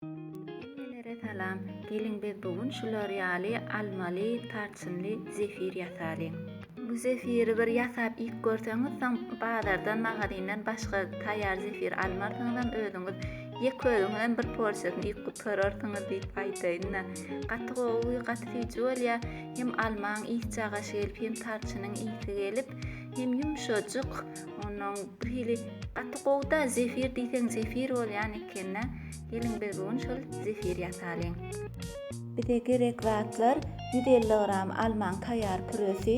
Hemmelere salam. Geliň biz bu gün şular ýaly almaly, tarçynly zefir ýasalyň. Bu zefiri bir ýasap iýip görseňiz soň bazardan magazindan başga taýýar zefir almarsyňyzam özüňiz ýeke özüňizem bir porsiýasyny iýip gutararsyňyz diýip aýdaýynda. Gaty gowy gaty süýji bolýa hem almaň ysy çagaşy gelip hem tarçynyň ysy gelip hem ýumşajyk. Ondan bir hili gaty gowda zefir diýseň zefir bolýan ekende. Geliň biz bu gün şol zefir ýasalyň. Bize gerek zatlar 150 gram almaň taýýar püresi,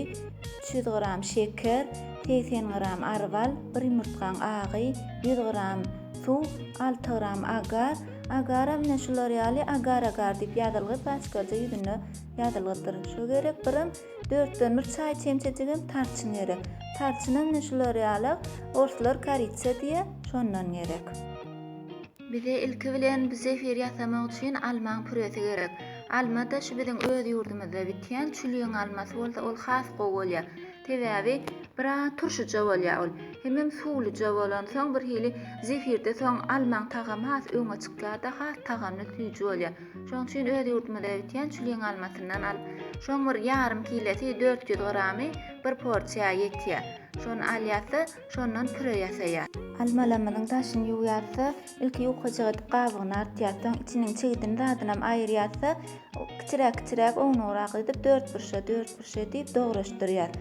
300 gram şeker, 80 gram arbal, 1 ýumurtgaň agy, 100 gram suw, 6 gram agar. Agara mine şular ýaly agar-agar diýip ýazylgy paçkaja ýüzünde ýazylgydyr. Şo gerek birem Dörtden bir çaý çemçejigem tarçyn gerek. Tarçynam ne şular ýala, orslar koritsa diýe, şondan gerek. Bize ilki bilen bu zefir ýasamak üçin almaň püresi gerek. Alma-da şu biziň öz ýurdumyzda bitýän çülýeň almasy bolsa ol has gowy bolýar. Sebäbi biraz turşyja bolýar ol. Hemem suwluja bolansoň birhili zefirde soň almaň tagamy has öňe çykýar-da has tagamly süýji bolýar. Şoň üçin öz ýurdumyzda öýtýän çüliň almasyndan al. Şoň bir ýarym kilesi dört ýüz gramy bir porsiýa ýetýä. Şony alýasda, şondan püre ýasaýa. Almalamyzyň daşyny ýuwýasda, ilki ýukajyk edip gabygyny artýas, soň içiniň çigidini zadynam aýyrýasda, kiçiräk-kiçiräk ownugrak edip dörtburçla-dörtburçla edip dograşdyrýas.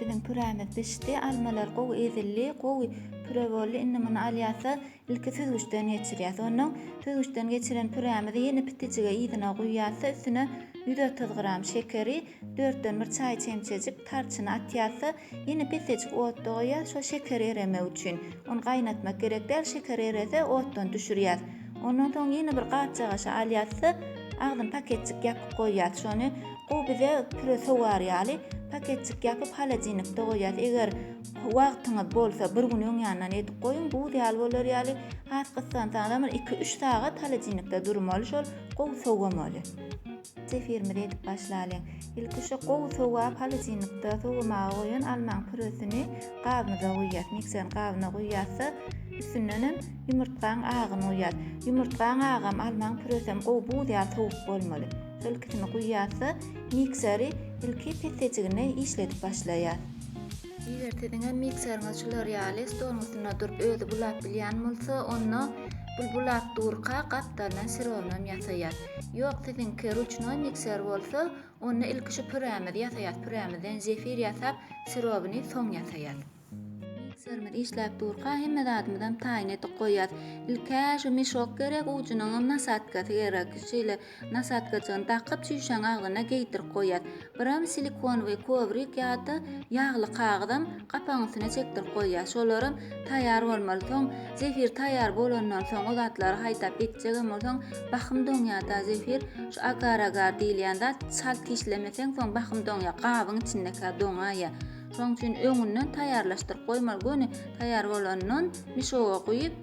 Biziň pürämiz bişdi, almalar gowy ezildi, gowy püre boldy. Indi muny alýasa, ilki süzgüçden geçirýäs. Ondan süzgüçden geçiren pürämizi ýene pitijige yzyna guýýasa, üstüne 130 gram şekeri, 4-den 1 çaý çemçejik tarçyny atýasa, Ýene pesejik otda goýýas şo şeker eremegi üçin. Ony gaýnatmak gerek däl şeker erese otdan düşürýäs. Ondan soň ýene bir gapjagaşa alýasda agzyn paketjik ýapyp goýýas şony gowy bize püre sogar ýaly paketjik ýapyp holodilnikde goýýas eger wagtyňyz bolsa bir gün öň ýandan edip goýuň buz ýaly bolar ýaly has gyssansaňyzam bir iki üç sagat holodilnikde durmaly şol gowy sowamaly. Zefirimizi edip başlalyň. Ilki şu gowy sowap halajinlikde sowamaga goýan almaň püresini gabymyza guýýas. Mikserin gabyna guýýasda üstündenem ýumurtgaň agyny guýýas. Ýumurtgaň agam almaň püresem gowy buz ýaly sowuk bolmaly. Şol ikisini guýýasda mikseri ilki pessejigine işledip başlaýas. Eger siziň hem mikseriňiz şular ýaly stoluň üstünde durup özi bulap bilýän bolsa, onda bul bulap durka gapdaldan syrownam ýasaýar. Ýok, siziňki ruçnoý mikser bolsa, onda ilki şu pürämizi ýasaýas, pürämizden zefir ýasap, syrowyny soň ýasaýas. Mikserimiz işläp durka hemme zadymyzam taýyn edip goýýas. Ilk-ä şu mishok gerek, ujunyňam nasatkasy gerek. Şeýle Nasatkajygyny dakyp, çüýşäňi agzyna geýdirip goýýar. Biram silikonowy kowrik ýa-da ýagly kagyzam gapagyň üstüne çekdirip goýýar. Şolaram taýýar bolmaly. Soň zefir taýýar bolandan soň, o zatlary haýdap etjegem bolsaň, bahym doňýar-da zefir. Şu agar-agar diýilýän zat çalt kişlemeseň, soň bahym doňýar, gabyň içindekä doňaýýar. Şonuň üçin öňünden taýýarlaşdyryp goýmaly. Göni taýýar bolandan mişoga guýup,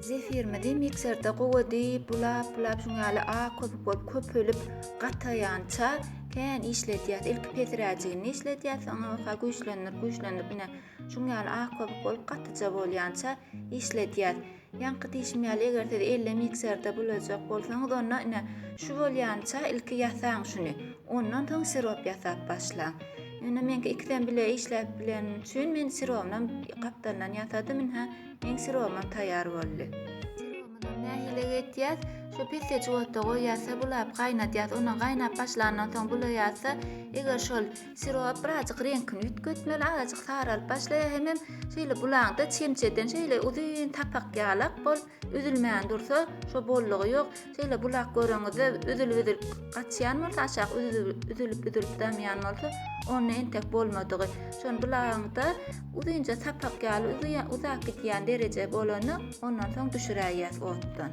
Zefirimizi mikserde gowady, bulap, bulap şuň ýaly a köpük bolup köpelip gataýança kän işledýäs. Ilki pesiräjigini işledýäs, soňra bolsa güýçlendirip, güýçlendirip ine şuň ýaly a köpük bolup gatyja bolýança işledýäs. Ýaňky diýşim ýaly eger siz elle mikserde bulajak bolsaňyz onda ine şu bolýança ilki ýasaň şuny ondan soň sirop ýasap başlaň. Ýöne meňki ikisem bile işläp bileni üçin men sirobynam gapdalyndan ýasadym ine meň sirobymam taýýar boldy. Sirobymyzam nähili etýäs şu pessejik otda goýýas-da bulap gaýnadýas ondan gaýnap başlandan soň bulaýas-da eger şol Sirop birazjyk reňkini üýtgetmeli, azajyk saralyp başlaýar hemem şeýle bulaňda çemçeden şeýle uzyn tapak ýalak bol, üzülmän dursa şo bollugy ýok. Şeýle bulak göreňizde üzülip-üzülip gaçýan bolsa, aşak üzülip-üzülip damýan bolsa, onda entek bolmadygy. Şony bulaňda uzynja tapak ýaly uzak gidýän dereje bolanda, ondan soň düşüräýýäs otdan.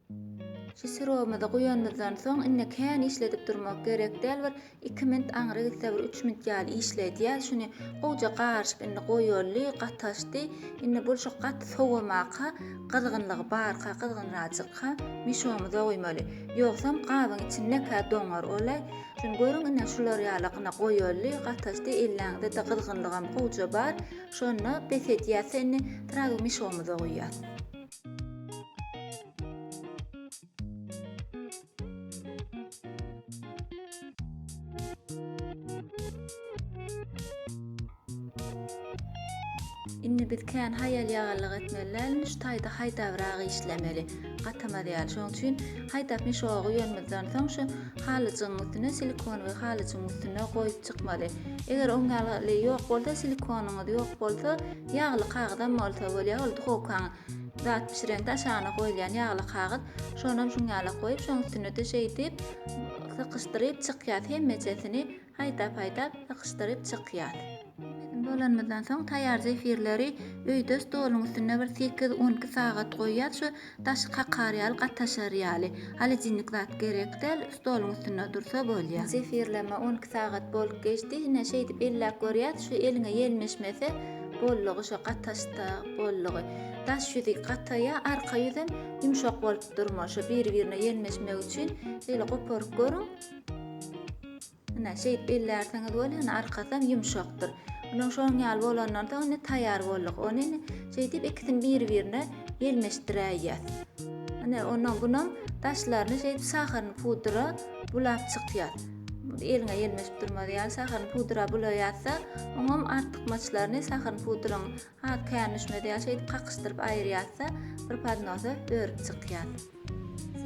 Şu syrowymyzy guýanymyzdan soň indi kän işledip durmak gerek däl bir iki mint aňry gitse bir üç mint ýaly işle diýýär şuny gowja garyşyp indi goýaly gataşdy indi bolşak gaty sowamaka gyzgynlygy barka gyzgynrajykka mişomyza guýmaly ýogsam gabyň içindekä doňar ola şuny görüň indi şular ýaly gyna goýaly gataşdy elläňizede gyzgynlygam gowja bar şonda bes edýäse indi trawy mişomyza guýýas. Indi biz kän haýal ýagallyk etmeli däl, şu taýda haýdabrak işlemeli. Gatamaz ýaly. Şonuň üçin haýdap mişogy ýönümizden soň şu halyjyň üstüne silikon we halyjyň üstüne goýup çykmaly. Eger oň ýaly ýok bolsa, silikonyňyz ýok bolsa, Ýagly kagyzam bolsa bolýar, ol duhowkaň zat bişireňde aşagyna goýulýan ýagly kagyz, şonam şuň ýala goýup, şoň üstüne-de şeýdip sykyşdyryp çykýas, hemmejesini haýdap-haýdap sykyşdyryp çykýas. Hemmesini bolanymyzdan soň taýýar zefirleri öýde stoluň üstünde bir sekiz-on iki sagat goýýas, şu Daşy kakar ýaly gataşar ýaly. Holodilnik zat gerek däl, stoluň üstünde dursa bolýa. Zefirleme on iki sagat bolup geçdi, ine şeýdip elläp görýäs, şu eliňe ýelmeşmese boldugy, şo gataşsa boldugy. Daş ýüzi gataýa, arka ýüzem ýumşak bolup durmaly, şo biri-birine ýelmeşmegi üçin şeýle goparyp görüň. Ine, şeýdip ellärsiňiz bolýa, ine, arkasam ýumşakdyr. Ine, şonuň ýaly bolandan soň, ine, taýýar bolduk. Ony, ine, şeýdip, ikisini bir-birine ýelmeşdiräýýäs. Ine, ondan bunam daşlaryny şeýdip şaharyny pudra bulap çykýas. Eliňe ýelmeşip durmaz ýaly şaharyny pudra bulaýas-da, oňam artykmaçlaryny şaharyny pudraň Ha, kän düşmez ýaly şeýdip kakyşdyryp aýyrýas-da, bir podnosa örüp çykýas.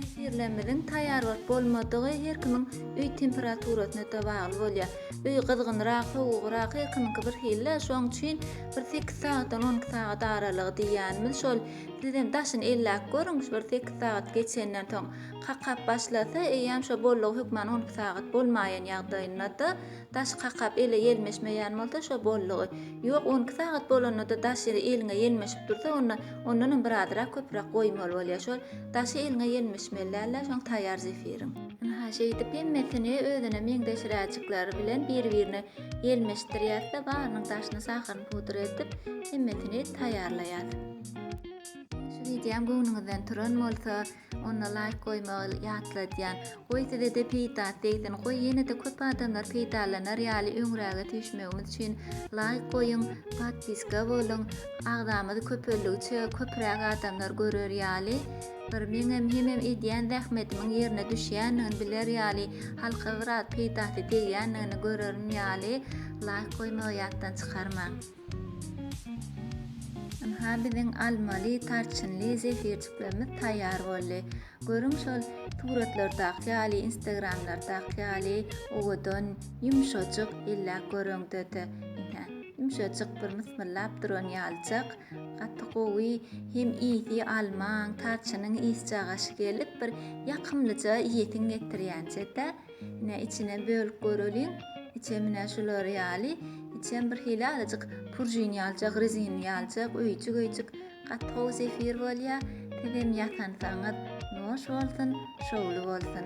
Zefirlerimiziň taýýar bolup bolmadygy her kimiň öý temperaturasyna-da bagly bolýar. Öý gyzgynrak, sowugrak, her kimiňki birhili-de, şonuň üçin bir sekiz sagatdan on iki sagat aralygy diýýänimiz şol. Siz hem daşyny elläp görüň, şu bir sekiz sagat geçenden soň kakap başlasa, eýýäm şo bollugy hökman on iki sagat bolmaýan ýagdaýynda-da, Daş kakap ele ýelmeşmeýän bolsa şo boldugy. Ýok, on iki sagat bolanda-da daş ýeri eliňe ýelmeşip dursa, onda ondanam bir azyrak köpräk goýmaly bolýar. Şol daşy eliňe ýelmeşmeli dälde şoň taýýar zefiriň. Ynha, şeýdip hemmesini özüne meňzeşräjikleri bilen bir-birine ýelmeşdirýäs-de, barynyň daşyny sahyryny pudra edip, hemmesini taýýarlaýas. Şu wideom göwnüňizden turan bolsa, Onda laýk goýmagy ýatladýan. Goý sizede peýdasy degsin, goý ýenede köp adamlar peýdalanar ýaly öňräge süýşmegimiz üçin laýk goýuň, podpiska boluň, agzamyz köpeldigiçe köpräk adamlar görer ýaly, bir meňem hemem edýän zähmetimiň ýerine düşýändigini biler ýaly, halka biraz peýdasy degýändigini görerin ýaly laýk goýmagy ýatdan çykarmaň. Ynha, biziň almaly, tarçynly zefirjiklerimiz taýýar boldy. Görüň, şol suratlardaky ýaly, instagramlardaky ýaly owadan, ýumşajyk, elläp gör öňde-de. Ynha, ýumşajyk bir mysmyllap duran ýalyjak. Gaty gowy, hem ysy almaň, tarçynyň ysjagaşy gelip, bir ýakymlyja iýesiň getirýänje-de. Ine içine bölüp göreliň. Içem ine şular ýaly. Içem bir hili azajyk purjin ýaljak, rezin ýaljak, öýjük-öýjük. Gaty gowy zefir bolýar. Sizem ýasansaňyz noş bolsun, şowly bolsun.